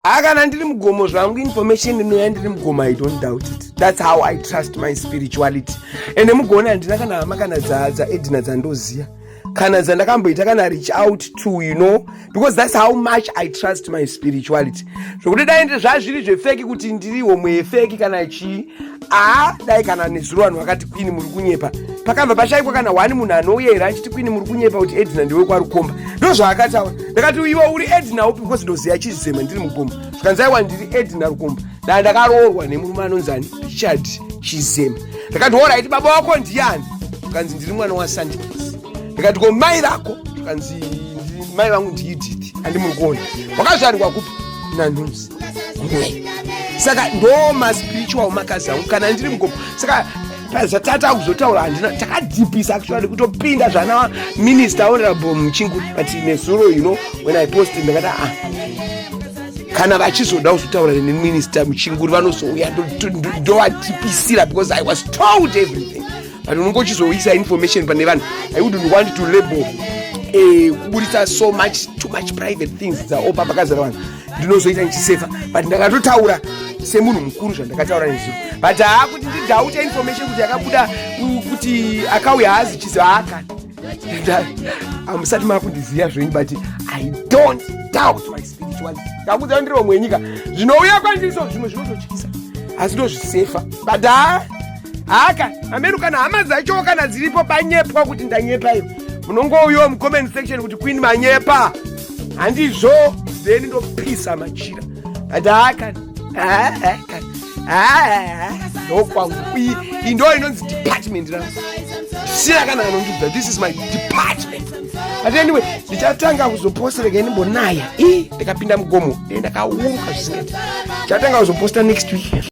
haa kana ndiri mugomo zvangu information inouya ndiri mugomo i don't doubt it thats how i trust my spirituality ende mugoona handina kana hama kana dzaedina dzandoziva kana dzandakamboita kana reach out to you know because thats how much i trust my spirituality zvokuti daende zvazviri zvefeki kuti ndiri homwe yefeki kana chii aa dai kana nezuro vanhu vakati kwini muri kunyepa pakabva pashaikwa kana hwani munhu anouya here achiti kwini muri kunyepa kuti edina ndiwe kwarukomba ndo zvaakataura ndakati iwe uri edina upi because ndoziva chizvizema ndiri mugomba zvikanzi aiwa ndiri edina rukomba dai ndakaroorwa nemurume anonzani richard chizema ndakati horaiti baba wako ndiani zvikanzi ndiri mwana wasandikisi ndikati ko mai vako zvikanzi mai vangu ndiididi andimuri kuona wakazvarikwa kupi nanhunzi saka ndo maspiritual makazi angu kana ndiri mugomo saka zvatata kuzotaura handina takadhipisa actually kutopinda zvana minister honorable muchingu but nezuro you know when i post ndakati a ah, kana vachizoda kuzotaura neminister muchinguri vanozouya ndovadhipisira because i was told everything but unenge uchizoisa information pane vanhu i wouldn't want to label eh, kuburitsa so much too much private things dzaopa pakazara vanhu ndinozoita ndichiseva but ndakatotaura semunhu mukuru zvandakataura nezviro but haa kuti ndidhaute information kuti yakabuda kuti akauya haazi chizi haakani amusati makundiziva zvenyu but i don't doubt my spirituality ndakudzaa ndiri vamwe wenyika zvinouya kwandiri so zvimwe zvinototyisa asi ndozvisefa but haa haka amene kana hama dzacho kana dziripo panyepwa kuti ndanyepa iyo munongouyawo mucomment section kuti queen manyepa handizvo then ndopisa machira adakani ndokwangu iyi ndo inonzi department ra sira kana anondiudza this is my department but anyway ndichatanga kuzopostereka ndimbonaya i ndikapinda mugomo ndendakauruka zvisingaiti ndichatanga kuzoposta next week